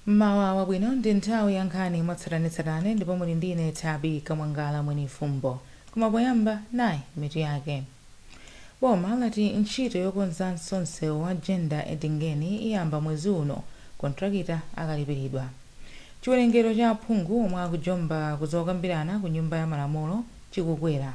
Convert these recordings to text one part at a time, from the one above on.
mmawa wabwino ndi nthawi ya nkhani mwatsatanetsatane ndipo muli ndi ine Thabika Mwangala mwenifumbo koma poyamba nayi mitu yake Boma lati ntchito yokonzanso msewu wa Jenda Edingeni iyamba mwezi uno kontrakita akalipiridwa. Chiwerengero cha aphungu omwe akujomba ku zokambirana ku Nyumba ya Malamulo chikukwera.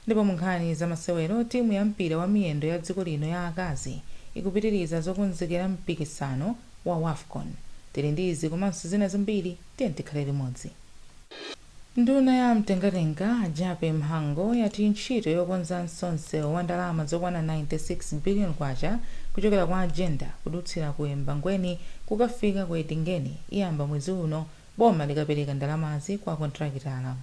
Ndipo munkhani za masewero timu ya mpira wa miyendo ya dziko lino ya akazi ikupitiriza zokonzekera mpikisano wa Wafcon. Tili ndi izi komanso zina zambiri, tiyeni tikhale limodzi. Nduna ya mtengatenga, a Jappie Mhango, yati ntchito yokonzanso msewu wa ndalama zokwana K96 billion kuchokera kwa Jenda kudutsira ku Embangweni kukafika ku Edingeni iyamba mwezi uno boma likapereka ndalamazi kwa kontrakitala.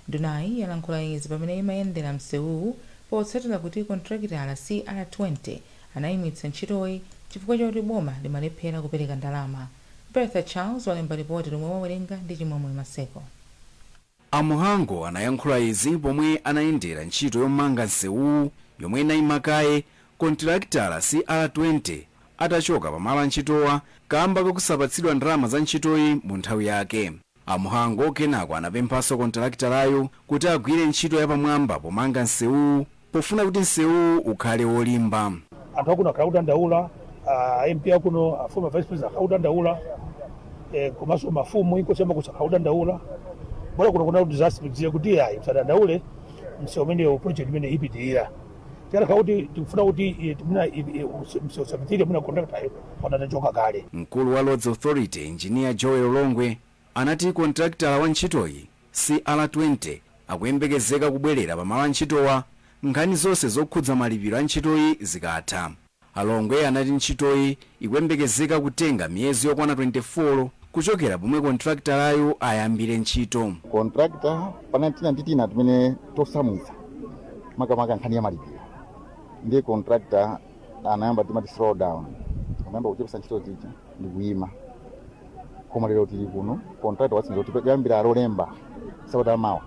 Ndunayi yalankhula izi pamene imayendera msewuwu potsatira kuti kontrakitala, CR20, anayimitsa ntchitoyi chifukwa chakuti boma limalephera kupereka ndalama. Bertha Charles walemba lipoti lomwe akuwerenga ndi Chimwemwe Maseko. A Mhango anayankhula izi pomwe anayendera ntchito yomanga nsewuwu yomwe inayima kaye kontilakitala CR20 atachoka pa malo antchitowa kaamba kakusapatsidwa ndalama za ntchitoyi mu nthawi yake. A Mhango kenako anapemphanso kontalakitalayu kuti agwire ntchito yapamwamba pomanga nsewuwu pofuna kuti nsewuwu ukhale wolimba. anthu akuno akhala akudandaula a mp akuno a former vice president akhala akudandaula eh, komanso mafumu inkosi yamakhosi akhala akudandaula bora kuno kuna disaster tidziye kuti ayi msadandaule msewu umenewu project imene ipitirira tiyankha kuti tikufuna kuti eh, timuna i- i- usi- mse- usapitire muna contractor anatachoka kale mkulu wa roads authority engineer joel longwe anati kontrakitala wa ntchitoyi cr20 akuyembekezeka kubwerera pamalo a ntchitowa nkhani zonse zokhudza malipiro a ntchitoyi zikatha A Longwe anati ntchitoyi ikuyembekezeka kutenga miyezi yokwana 24 kuchokera pomwe kontrakitalayu ayambire ntchito. Kontrakita panali tina ndi tina timene tosamvetsa makamaka nkhani ya malipiro ndiye kontrakita anayamba timati slow down anayamba kuchepetsa ntchito zija ndi kuyima koma lero tili kuno kontrakita watsimikiza kuti kuyambira lolemba sabata yamawa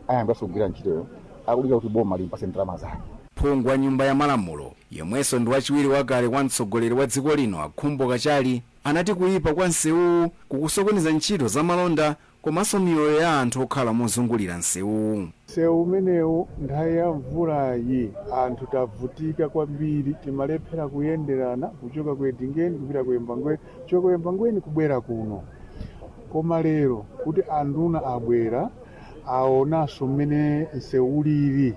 ayambiranso kugwira ntchitoyo akudikira kuti boma limpatse ndalama zake. Phungu wa Nyumba ya Malamulo yemwenso ndi wachiwiri wakale kwa mtsogoleri wa dziko lino a Khumbo Kachali anati kuyipa kwa nsewuwu kukusokoneza ntchito za malonda komanso miyoyo ya anthu okhala mozungulira nsewuwu. Nsewu umenewu nthawi ya mvulayi anthu tavutika kwambiri, timalephera kuyenderana kuchoka ku Edingeni kupita ku Embangweni, kuchoka ku Embangweni kubwera kuno. Koma lero kuti anduna abwera aonanso mmene nsewu ulili.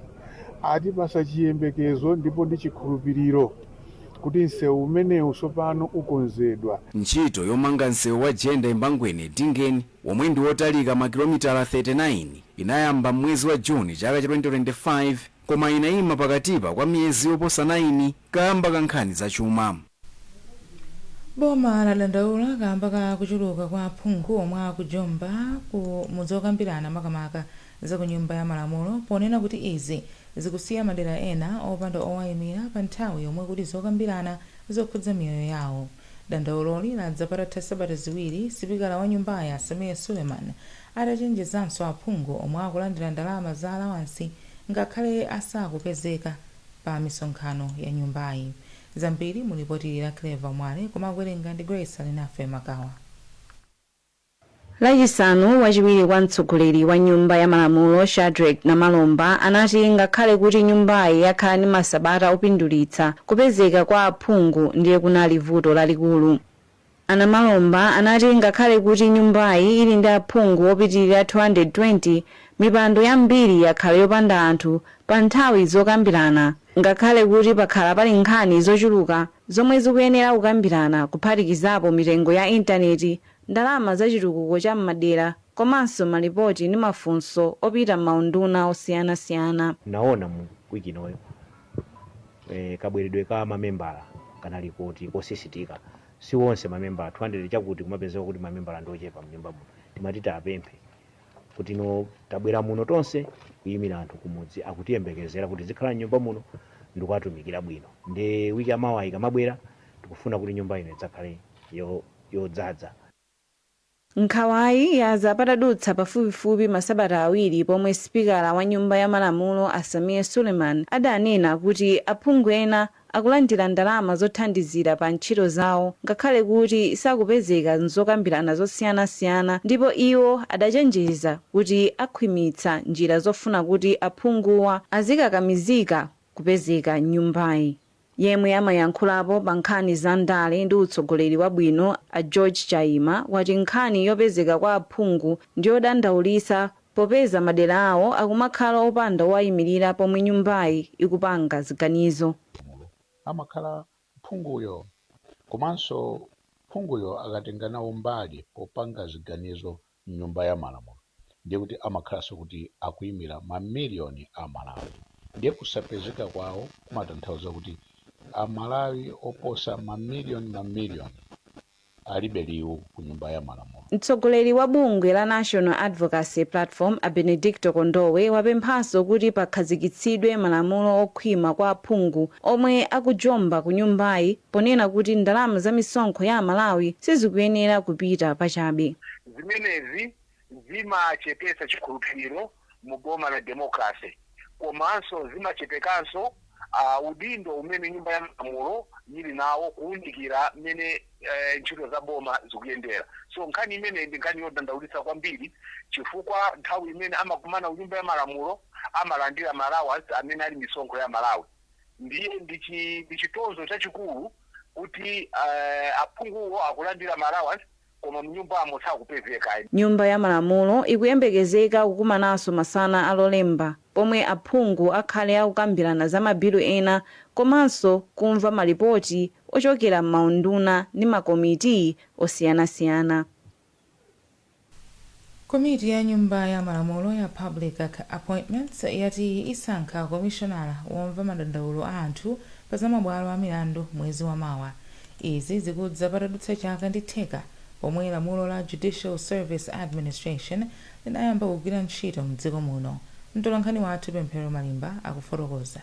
Atipatsa chiyembekezo ndipo ndi chikhulupiriro kuti msewu umenewu tsopano ukonzedwa. Ntchito yomanga msewu wa Jenda-Embangweni-Edingeni, womwe ndi wotalika makilomitala 39, inayamba m'mwezi wa June chaka cha 2025 koma inaima pakatipa kwa miyezi yoposa 9 kaamba ka nkhani zachuma. Boma ladandaula kaamba ka kuchuluka kwa aphungu omwe akujomba ku m'zokambirana makamaka za ku nyumba ya malamulo ponena kuti izi zikusiya madera ena opanda owayimira pa nthawi yomwe kuli zokambirana zokhudza miyoyo yawo. Dandauloli ladza patatha sabata ziwiri sipikala wa nyumbayi a Sameer Suleman atachenjezanso aphungu omwe akulandira ndalama za alawansi ngakhale asakupezeka pa misonkhano ya nyumbayi. Zambiri mu lipoti la Clever Mwale koma akuwerenga ndi Grace Alinafe Makawa. Lachisanu, wachiwiri kwa mtsogoleri wa Nyumba ya Malamulo Shadreck Namalomba anati ngakhale kuti nyumbayi yakhala ndi masabata opindulitsa, kupezeka kwa aphungu ndiye kunali vuto lalikulu. A Namalomba anati ngakhale kuti nyumbayi ili ndi aphungu opitilira 220, mipando yambiri yakhala yopanda anthu pa nthawi zokambirana ngakhale kuti pakhala pali nkhani zochuluka zomwe zikuyenera kukambirana kuphatikizapo mitengo ya intaneti, ndalama za chitukuko cha m'madera komanso malipoti ndi mafunso opita m'maunduna osiyanasiyana. Naona mu week inoyo. eh, kabweredwe ka mamembala kanali koti kosisitika si onse mamembala 200 chakuti kumapezeka kuti mamembala ndi ochepa mnyumba muno timati tapemphe kuti no tabwera muno tonse kuyimira anthu kumudzi akutiyembekezera kuti tizikhala mnyumba muno ndikuwatumikira bwino ndiye wiki yamawa ikamabwera tikufuna kuti nyumba ino idzakhale yo- yodzadza Nkhawayi yadza patadutsa pafupifupi masabata awiri pomwe sipikala wa nyumba ya malamulo a Sameer Suleman adanena kuti aphungu ena akulandira ndalama zothandizira pa ntchito zawo ngakhale kuti sakupezeka m'zokambirana zosiyanasiyana ndipo iwo adachenjeza kuti akhwimitsa njira zofuna kuti aphunguwa azikakamizika kupezeka m'nyumbayi. Yemwe amayankhulapo pa nkhani za ndale ndi utsogoleri wabwino a George Chaima wati nkhani yopezeka kwa aphungu ndiyodandaulitsa popeza madera awo akumakhala opanda owayimilira pomwe nyumbayi ikupanga ziganizo. Amakhala phunguyo komanso phunguyo akatenga nawo mbali popanga ziganizo mnyumba ya malamulo ndiye kuti amakhalanso kuti akuimira ma million a Amalawi. Ndiye kusapezeka kwawo kumatanthauza kuti a Malawi oposa ma million ma million alibe liwu ku nyumba ya malamulo. Mtsogoleri wa bungwe la National Advocacy Platform a Benedicto Kondowe wapemphanso kuti pakhazikitsidwe malamulo okhwima kwa aphungu omwe akujomba ku nyumbayi ponena kuti ndalama za misonkho ya Amalawi sizikuyenera kupita pachabe. Zimenezi zimachepetsa chikhulupiriro mu boma la democracy komanso zimachepekanso udindo umene nyumba ya malamulo yili nawo kuunikira mmene ntchito za boma zikuyendera. So nkhani imeneyi ndi nkhani yodandaulitsa kwambiri chifukwa nthawi imene amakumana ku nyumba ya malamulo amalandira ma allowance amene ali misonkho ya Amalawi ndiye ndi chitonzo chachikulu kuti aphunguwo akulandira ma allowance Koma mnyumbamo sakupezeka. Nyumba ya Malamulo ikuyembekezeka kukumananso masana a Lolemba pomwe aphungu akhale akukambirana za ma bilu ena komanso kumva ma lipoti ochokera m'maunduna ndi ma komitii osiyanasiyana. Komiti ya nyumba ya malamulo ya Public Appointments yati isankha komishonala womva madandaulo a anthu pa za mabwalo a milandu mwezi wa mawa. Izi zikudza patadutsa chaka ndi theka pomwe lamulo la Judicial Service Administration linayamba kugwira ntchito mdziko muno. Mtolankhani wathu Pemphero Malimba akufotokoza.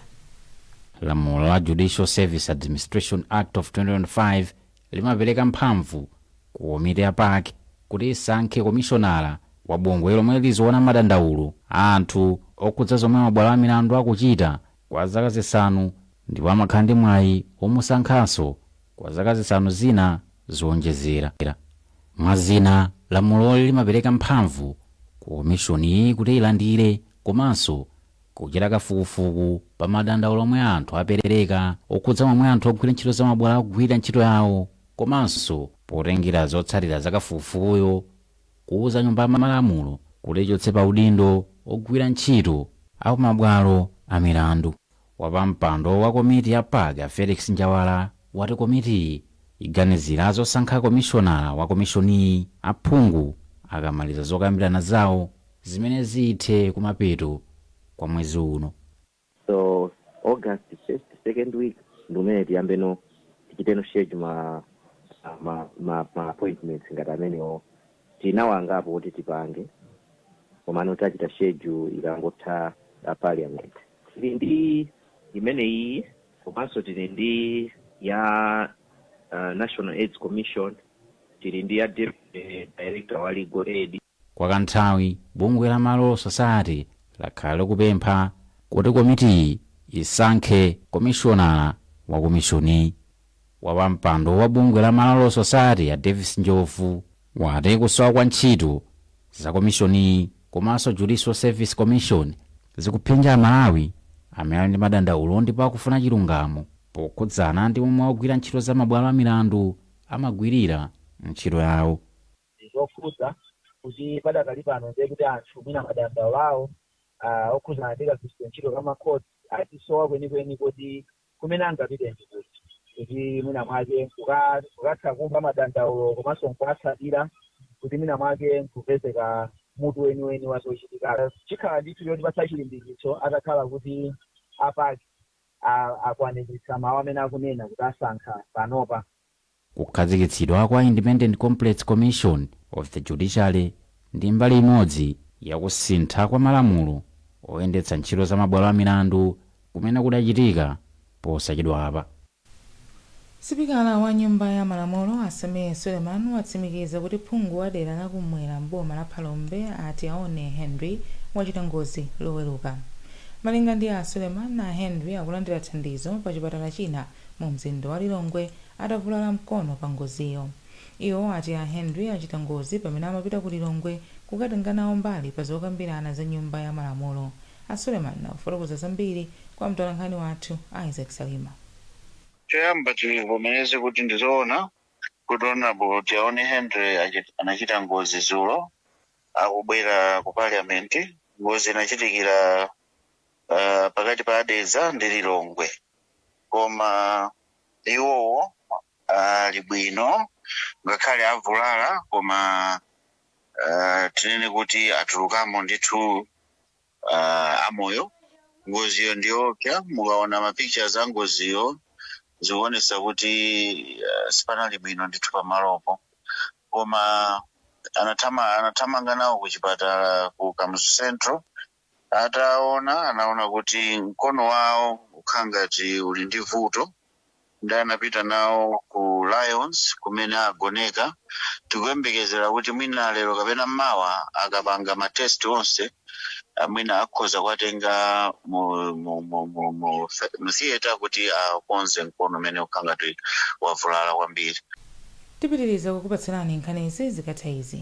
Lamulo la Judicial Service Administration Act of 2025 limapereka mphamvu Ku komiti ya PAC kuti isankhe komishonala wa bungwe lomwe liziona madandaulo a anthu okhudza zomwe mabwalo a milandu akuchita kwa zaka zisanu ndipo amakhala ndi mwayi womusankhanso kwa zaka zisanu zina zoonjezera. Mwa zina, lamuloli limapereka mphamvu ku komishoniyi kuti ilandire komanso kuchita kafukufuku pa madandaulo omwe anthu apereka okhudza momwe anthu ogwira ntchito za mabwalo akugwirira ntchito yawo Komanso potengera zotsatira za kafukufukuyo, kuuza Nyumba ya Malamulo kuti ichotse pa udindo ogwira ntchito a ku mabwalo a milandu, wapampando wa komiti ya PAC a Felix Njawala wati komitiyi iganizira zosankha komishonala wa komishoniyi aphungu akamaliza zokambirana zawo zimene zithe kumapeto kwa mwezi uno. So August first, second week ndimmene tiyambeno tichiteno schedule ma ma ma, ma appointments ngati amenewo tinawo angapo kuti tipange komano tachita schedule ikangotha a parliament tili ndi imene iyi komanso tili ndi ya uh, national aids commission tili ndi ya deputy director wa legal aid Kwa kanthawi, bungwe la Malawi Law Society lakhala likupempha kuti komitiyi isankhe komishonala wa komishoni. Wapampando wa bungwe la Malawi Law Society a Davis Njobvu wati kusowa kwa ntchito za komishoniyi komanso Judicial Service Commission zikuphinja a Malawi amene ali ndi madandaulo ndipo akufuna chilungamo pokhudzana ndi momwe ogwira ntchito za mabwalo a milandu amagwirira ntchito yawo. ndi zokhudza kuti padakali pano ndiye kuti anthu mwina madandaulo awo ah, okhudzana ndi kagwiritsidwe ntchito ka makhoti akusowa kwenikweni kuti kumene angapite ndi kuti kuti mwina mwake kuka- kukatha kumva madandaulo komanso nkuwatsatira kuti mwina mwake nkupezeka mutu weniweni wa zochitika chikhala ndithu chotipatsa chilimbikitso atakhala kuti a PAC a- akwaniritsa mawu amene akunena kuti asankha panopa Kukhazikitsidwa kwa Independent Complaints Commission of the Judiciary ndi mbali imodzi ya kusintha kwa malamulo oyendetsa ntchito za mabwalo a milandu kumene kudachitika posachedwapa. Sipikala wa Nyumba ya Malamulo, a Sameer Suleman, watsimikiza kuti phungu wa dera la kummwera m'boma la Phalombe, a Tiaone Henry, wachita ngozi Loweruka. Malinga ndi a Suleman, a Henry akulandira thandizo pachipatala china mumzinda wa Lilongwe atavulala mkono pa ngoziyo. Iwo ati a Henry achita ngozi pamene amapita ku Lilongwe kukatenga nawo mbali pa zokambirana za nyumba ya malamulo. A Suleman akufotokoza zambiri kwa mtolankhani wathu Isaac Salima. Choyamba tivomereze kuti ndi zoona kuti Honourable Tiaone Henry anachita ngozi dzulo akubwera ku Parliament. Ngozi inachitikira pakati pa Dedza ndi Lilongwe koma. iwowo ali bwino ngakhale avulala koma ah, tinene kuti atulukamo ndithu ah, amoyo ngoziyo ndiyoopsa mukaona mapictures a ngoziyo zikuonesa kuti ah, sipanali bwino ndithu pamalopo koma anathama- anathamanga nawo ku chipatala ku kamuzu central Ataona, anaona kuti mkono wawo ukhangati uli ndi vuto nde anapita nawo ku Lions kumene agoneka. Tikuyembekezera kuti mwina lero kapena mawa akapanga ma test onse mwina akhoza kuwatenga mu theatre kuti akonze mkono umene ukhangati wavulala kwambiri. Tipitiriza kukupatsilani nkhanizi zikatha izi.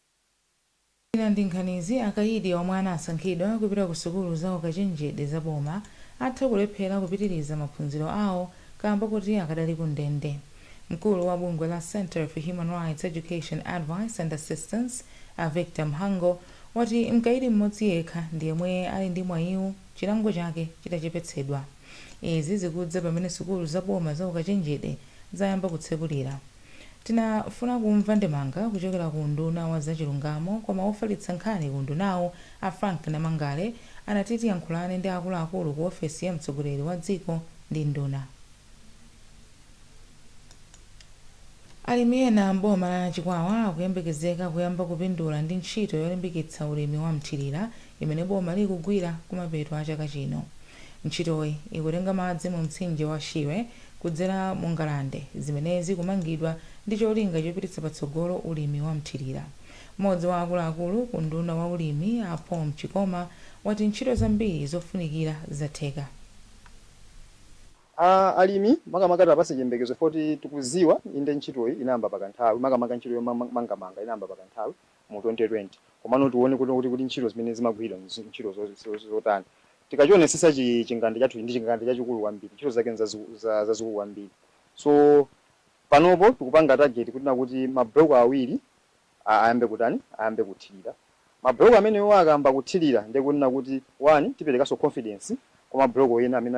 Zina ndi nkhanizi, akayidi omwe anasankhidwa kupita ku sukulu za ukachenjede za boma atha kulephera kupitiliza maphunziro awo kaamba koti akadali ku ndende. Mkulu wa bungwe la Centre for Human Rights Education Advice and Assistance, a Victor Mhango, wati mkayidi m'modzi yekha ndi yemwe ali ndi mwayiwu chilango chake chitachepetsedwa. Izi zikudza pamene sukulu za boma za ukachenjede zayamba kutsekulira. Tinafuna kumva ndemanga kuchokera ku unduna wa za chilungamo koma wofalitsa nkhani ku undunawu a Frank Namangale anati tiyankhulane ndi akuluakulu ku ofesi ya mtsogoleri wa dziko ndi nduna. Alimi ena m'boma la Chikwawa akuyembekezeka kuyamba kupindula ndi ntchito yolimbikitsa ulimi wa mthilira imene boma likugwira kumapeto a chaka chino. Ntchitoyi ikutenga madzi mu mtsinje wa Shire kudzera mu ngalande zimene zikumangidwa ndi cholinga chopititsa patsogolo ulimi wa mthirira. M'modzi wa akuluakulu ku unduna wa ulimi a Paul Mchikoma wati ntchito zambiri zofunikira zatheka. Alimi makamaka tiwapatse chiyembekezo chifukwa kuti tikuziwa inde ntchitoyi inayamba pa kanthawi makamaka ntchito yomangamanga inayamba pa kanthawi mu 2020 komano tione kuti ntchito zimene zimagwiridwa ndi ntchito zotani tikachionesesa chi chingande chathuchi ndi chingande chachikulu kwambiri ntchito zake nzazikulu kwambiri so panopo tikupanga target kunena kuti ma block awiri a- ayambe kutani ayambe kuthilira ma block amenewo akayamba kuthilira ndiye kunena kuti one tiperekaso confidence kwa ma block ena amene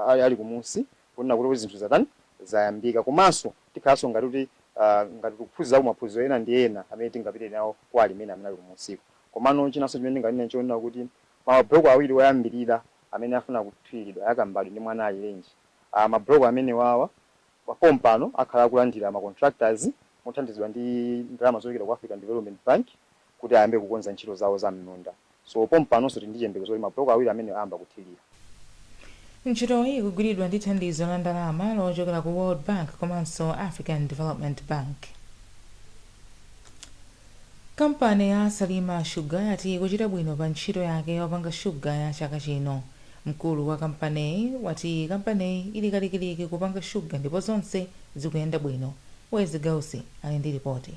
ali kumunsi kunena kuti zinthu zatani, zayambika. Komanso tikhalanso ngati kuti aah ngati tikuphunzirako maphunziro ena ndi ena amene tingapite nawo kwa alimi amene ali kumunsiku. Komano chinanso chimene ndinganene n'chonena kuti mabuloko awiri oyambirira amene afuna kuthiriridwa ya Kambadwe ndi Mwanaalirenji. Aah mabuloko amenewawa pompano akhala akulandira ma contractors mothandizidwa ndi ndalama zochokera ku African Development Bank. kuti ayambe kukonza ntchito zawo za m'minda so pompanonso tili ndi chiyembekezo kuti ma block awiri amenewa ayamba kuthilira. Ntchitoyi ikugwiridwa ndi thandizo la ndalama lochokera ku World Bank komanso African Development Bank. Kampani ya Salima Sugar yati ikuchita bwino pa ntchito yake yopanga shuga ya chaka chino. Mkulu wa kampaneyi wati kampaneyi ili kalikiliki kupanga shuga ndipo zonse zikuyenda bwino. Wezi Gausi ali ndi lipoti.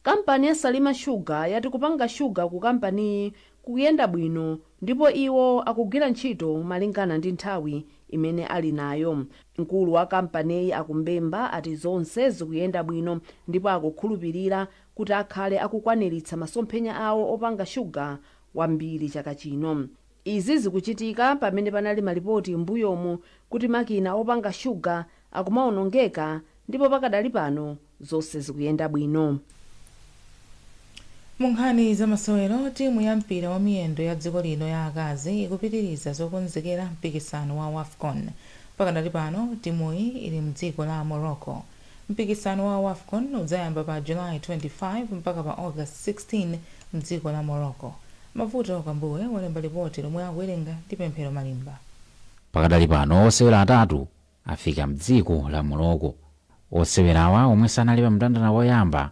Kampani ya Salima Sugar yati kupanga shuga ku kampaniyi kukuyenda bwino ndipo iwo akugwira ntchito malingana ndi nthawi imene ali nayo. Mkulu wa kampaniyi a Kumbemba ati zonse zikuyenda bwino ndipo akukhulupilira kuti akhale akukwaniritsa masomphenya awo opanga shuga wambiri chaka chino. Izi zikuchitika pamene panali malipoti m'mbuyomu kuti makina opanga shuga akumaonongeka ndipo pakadali pano zonse zikuyenda bwino. Mu nkhani za masewero, timu ya mpira wa miyendo ya dziko lino ya akazi ikupitiriza zokonzekera mpikisano wa Wafcon. Pakadali pano, timuyi ili mdziko la Morocco. Mpikisano wa Wafcon udzayamba pa July 25 mpaka pa August 16 mdziko la Morocco. Mavuto Kambuwe walemba lipoti lomwe akuwerenga ndi Pemphero Malimba. Pakadali pano osewera atatu afika mdziko la Morocco. Osewerawa omwe sanali pa mndandanda woyamba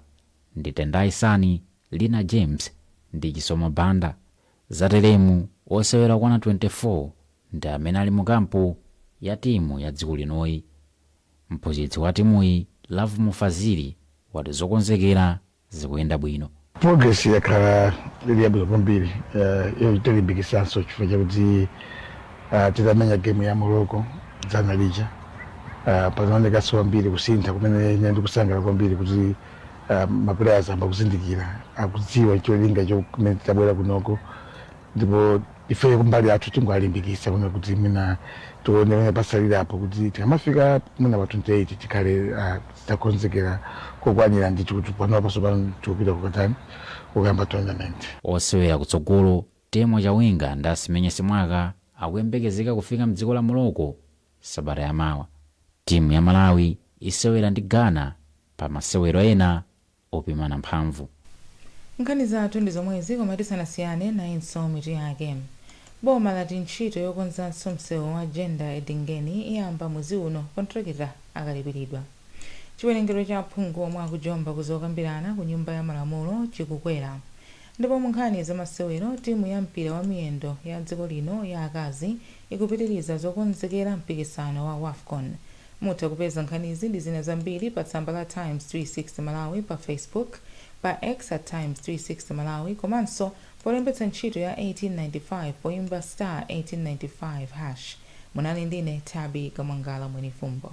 ndi Tendai Sani, Lina James ndi Chisomo Banda. Zateremu, osewera okwana 24 ndi amene ali mu kampu ya timu ya dziko linoyi. Mphunzitsi wa timuyi, Lovemore Fazili, wati zokonzekera zikuyenda bwino. Progress yakhala ili yabwino kwambiri yotilimbikitsanso chifukwa chakuti titamenya game ya Morocco dzana lija panaonekanso kwambiri kusintha kumene ine ndikusangalala kwambiri kuti ma players ayamba kuzindikira, akudziwa cholinga chimene tabwerera kunoko. ndipo ifeyo kumbali yathu tikuwalimbikisa kunena kuti mwina tione pamene pasalirapo kuti tikamafika mwina pa 28 tikhale ah, titakonzekera kokwanira ndithu kuti panopa pasopano tikupita kukatani kukayamba tournament osewera kutsogolo Temwa Chawinga ndi Asimenye Simwaka akuyembekezeka kufika mdziko la morocco sabata yamawa timu ya malawi isewera ndi ghana pa masewero ena opimana mphamvu. Nkhani zathu ndi zomwezi koma tisanasiyane nayinso mitu yake. Boma lati ntchito yokonzanso msewu wa Jenda Edingeni iyamba mwezi uno kontilakita akalipilidwa. Chiwerengero cha aphungu omwe akujomba ku zokambirana ku nyumba ya malamulo chikukwera ndipo munkhani zamasewero timu ya mpira wamiyendo ya dziko lino ya akazi ikupitiliza zokonzekera mpikisano wa Wafcon. Mutha kupeza nkhanizi ndi zina zambiri pa tsamba la Times 360 Malawi pa Facebook, pa X at Times 360 Malawi komanso polembetsa ntchito ya 1895 poimba star 1895 hash. Munali ndine Tabby Kamwangala Mwenifumbo.